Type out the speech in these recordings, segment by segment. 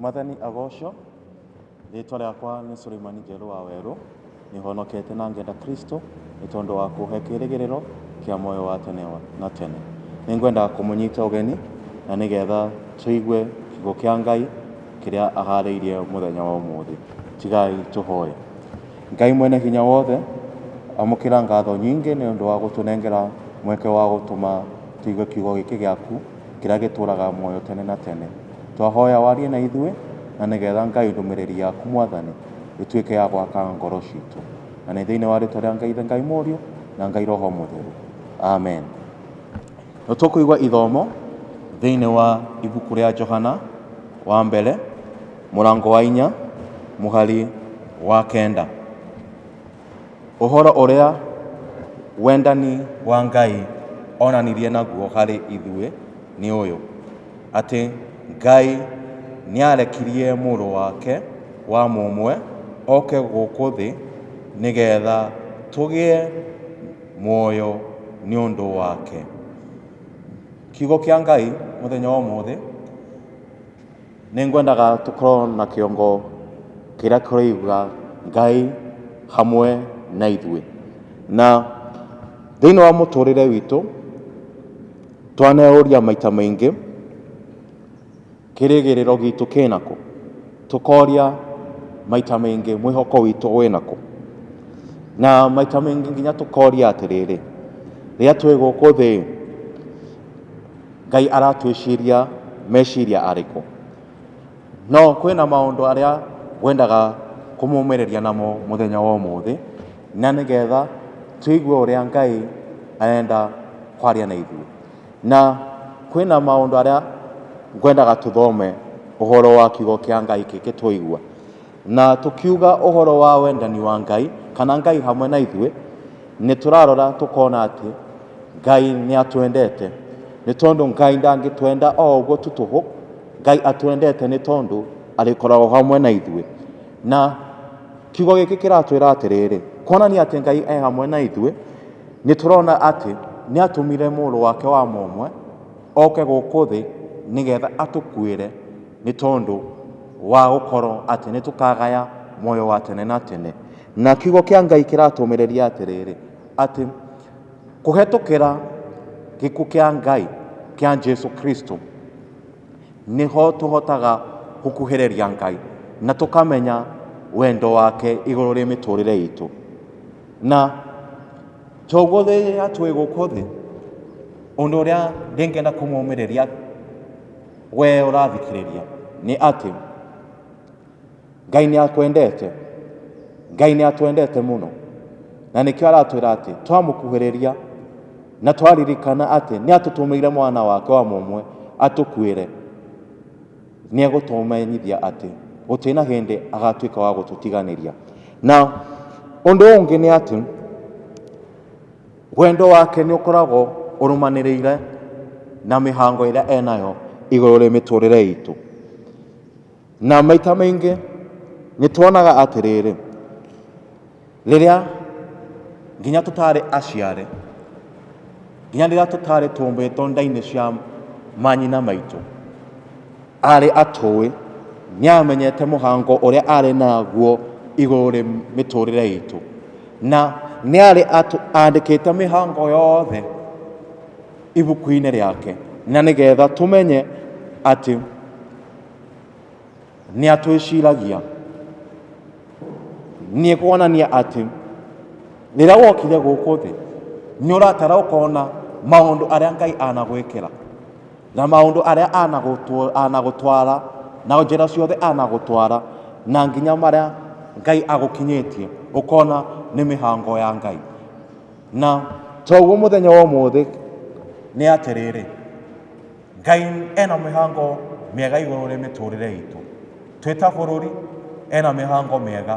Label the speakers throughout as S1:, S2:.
S1: mwathani agocwo rĩtwa rĩakwa nĩ suleimani njerũ wa werũ nĩhonokete na ngenda kristo nĩ tondũ wa kũhe kĩrĩgĩrĩro kĩa moyo wa tene wa- na tene nĩngwenda kũmũnyita ũgeni na nĩgetha tũigue kiugo kĩa ngai kĩrĩa aharĩirie mũthenya wa ũmũthĩ tigai tũhoye Ngai Mwene-Hinya-Wothe, amũkĩra ngatho nyingĩ nĩ ũndũ wa gũtũnengera mweke wa gũtũma tũigue Kiugo gĩkĩ gĩaku kĩrĩa gĩtũũraga muoyo tene na tene. Twahoya warie na ithuĩ, na nĩ getha Ngai ndũmĩrĩri yaku Mwathani ĩtuĩke ya gwaka ngoro citũ. Na nĩ thĩinĩ wa rĩtwa rĩa Ngai Ithe, Ngai Mũriũ, na Ngai Roho Mũtheru. Amen. Nĩ tũkũigua ithomo thĩinĩ wa ibuku rĩa Johana wa mbere. Mũrango wa inya, mũhari wa kenda. Ũhoro ũrĩa wendani wa Ngai onanirie naguo harĩ ithuĩ nĩ ũyũ, atĩ Ngai nĩarekirie Mũrũ wake wa mũmwe oke gũkũ thĩ nĩ getha tũgĩe muoyo nĩ ũndũ wake. Kiugo kĩa Ngai mũthenya wa ũmũthĩ. Nĩ ngwendaga tũkorwo na kĩongo kĩrĩa kĩroiga Ngai hamwe na ithuĩ. Na thĩinĩ wa mũtũrĩre witũ, twaneyũria maita maingĩ, kĩrĩgĩrĩro gitũ kĩna kũ? Tũkoria maita maingĩ mwĩhoko witũ wĩna kũ? Na maita maingĩ nginya tũkoria atĩrĩrĩ, rĩrĩa twĩ gũkũ thĩ-ĩ, Ngai aratwĩciria meciria arĩkũ? No kwĩna maũndũ arĩa ngwendaga kũmũmĩrĩria namo mũthenya wa ũmũthĩ, na nĩgetha tũigue ũrĩa Ngai arenda kwaria na ithuĩ. Na kwĩna maũndũ arĩa ngwendaga tũthome ũhoro wa kiugo kĩa Ngai kĩngĩtũigua. Na tũkiuga ũhoro wa wendani wa Ngai, kana Ngai hamwe na ithuĩ, nĩ tũrarora tũkona atĩ Ngai nĩ atwendete. Nĩ tondũ Ngai ndangĩtwenda o ũguo tu tũhũ, Ngai atwendete nĩ tondũ arĩkoragwo hamwe na ithuĩ. Na kiugo gĩkĩ kĩratwĩra atĩrĩrĩ, kuonania atĩ Ngai e hamwe na ithuĩ, nĩ tũrona atĩ nĩ atũmire mũrũ wake wa mũmwe oke gũkũ thĩ nĩgetha atũkuĩre. Nĩ tondũ wa gũkorwo atĩ nĩ tũkagaya muoyo wa tene na tene. Na kiugo kĩa Ngai kĩratũmĩrĩria atĩrĩrĩ, atĩ kũhetũkĩra gĩkuũ kĩa Ngai kĩa Jesu Kristo, nĩho tũhotaga gũkuhĩrĩria Ngai na tũkamenya wendo wake igũrũ rĩa mĩtũrĩre itũ. Na toguo rĩrĩa twĩ gũkũ thĩ, ũndũ ũrĩa ingĩenda kũmomĩrĩria... Wee ũrathikĩrĩria, nĩ atĩ Ngai nĩ akwendete, Ngai nĩ atwendete mũno, na nĩkĩo aratwĩra atĩ twamũkuhĩrĩria na twaririkana atĩ nĩ atũtũmĩire mwana wake wa mũmwe atũkuĩre, nĩ egũtũmenyithia atĩ gũtirĩ na hĩndĩ agatuĩka wa gũtũtiganĩria. Na ũndũ ũngĩ nĩ atĩ Wendo wake nĩ ũkoragwo ũrũmanĩrĩire na mĩhango ĩrĩa enayo igũrũ rĩ mĩtũrĩre itũ. Na maita maingĩ nĩ tuonaga atĩrĩrĩ, rĩrĩa nginya tũtarĩ aciare, nginya rĩrĩa tũtarĩ tũmbĩtwo nda-inĩ cia manyina maitũ, Aarĩ atũũĩ, nĩ aamenyete mũhango ũrĩa aarĩ naguo igũrũ rĩ mĩtũũrĩre itũ. Na nĩ aarĩ andĩkĩte mĩhango yothe ibuku-inĩ rĩake, na nĩ getha tũmenye atĩ nĩ atwĩciragia. Nĩ kuonania atĩ rĩrĩa wokire gũkũ thĩ, nĩ ũratara ũkona maũndũ arĩa Ngai anagwĩkĩra. Na maũndũ arĩa anagũtwa- anagũtwara na njĩra ciothe anagũtwara na nginya marĩa ngai agũkinyĩtie ũkona nĩ mĩhango ya ngai na toguo mũthenya wa ũmũthĩ nĩ atĩrĩrĩ ngai ena mĩhango mĩega igũrũ rĩ mĩtũrĩre itũ twĩ ta bũrũri ena mĩhango mĩega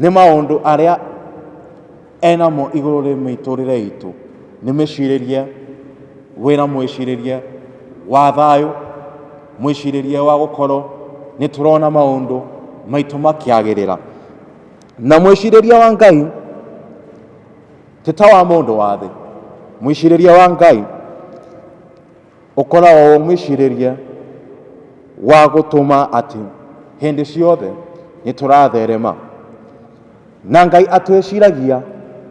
S1: Nĩ maũndũ arĩa enamo igũrũ rĩ mĩtũrĩre itũ nĩ mĩcirĩrie, wĩna mwĩcirĩrie wa thayũ, mwĩcirĩrie wa gũkorwo nĩ tũrona maũndũ maitũ makĩagĩrĩra. Na mwĩcirĩrie wa Ngai ti ta wa mũndũ wa thĩ, mwĩcirĩrie wa Ngai... Ũkoragwo wĩ mwĩcirĩrie wa gũtũma atĩ hĩndĩ ciothe nĩ tũratherema. Na Ngai atwĩciragia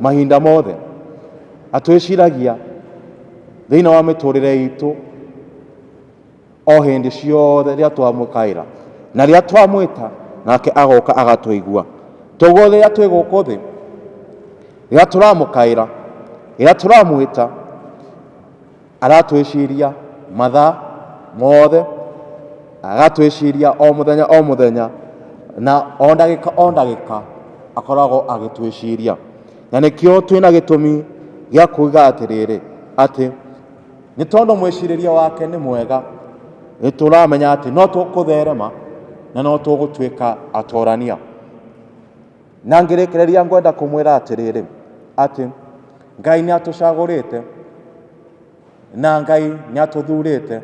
S1: mahinda mothe, atwĩciragia thĩinĩ wa mĩtũrĩre itũ o hĩndĩ ciothe rĩrĩa twamũkaĩra. Na rĩrĩa twamwĩta nake agoka agatũigua. Toguo rĩrĩa twĩ gũkũ thĩ, rĩrĩa tũramũkaĩra, rĩrĩa tũramwĩta, aratwĩciria mathaa mothe, agatwĩciria o mũthenya o mũthenya, na o ndagĩka o ndagĩka akoragwo agĩtwĩciria. Na nĩkĩo twĩ na gĩtũmi gĩa kuga atĩrĩrĩ, atĩ nĩ tondũ mwĩcirĩrie wake nĩ mwega, nĩ tũramenya atĩ no tũkũtherema na no tũgũtuĩka atorania. Na ngĩrĩkĩrĩria ngwenda kũmwĩra atĩrĩrĩ, atĩ Ngai nĩatũcagũrĩte, na Ngai nĩatũthurĩte,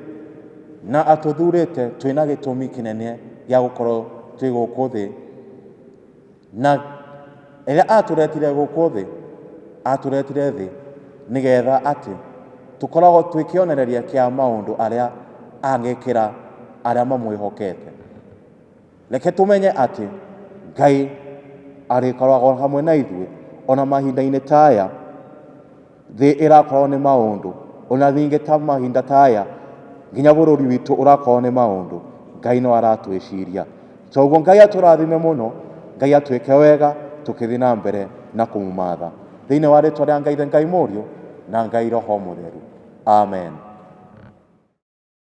S1: na atũthurĩte twĩ na gĩtũmi kĩnene gĩa gũkorwo twĩ gũkũ thĩ, na rĩrĩa atũretire gũkũ thĩ, atũretire thĩ nĩgetha atĩ tũkoragwo twĩ kĩonereria kĩa maũndũ arĩa angĩkĩra arĩa mamwĩhokete. Reke tũmenye atĩ Ngai arĩkoragwo hamwe na ithuĩ ona mahinda-inĩ ta aya thĩ ĩrakorwo nĩ maũndũ, ona ningĩ ta mahinda ta aya nginya bũrũri witũ ũrakorwo nĩ maũndũ, Ngai no aratwĩciria. Toguo Ngai atũrathime mũno, Ngai atwĩke wega tũkĩthiĩ na mbere na kũmũmatha. Thĩinĩ wa rĩtwa rĩa Ngai Ithe, Ngai Mũriũ na Ngai Roho Mũtheru. Amen.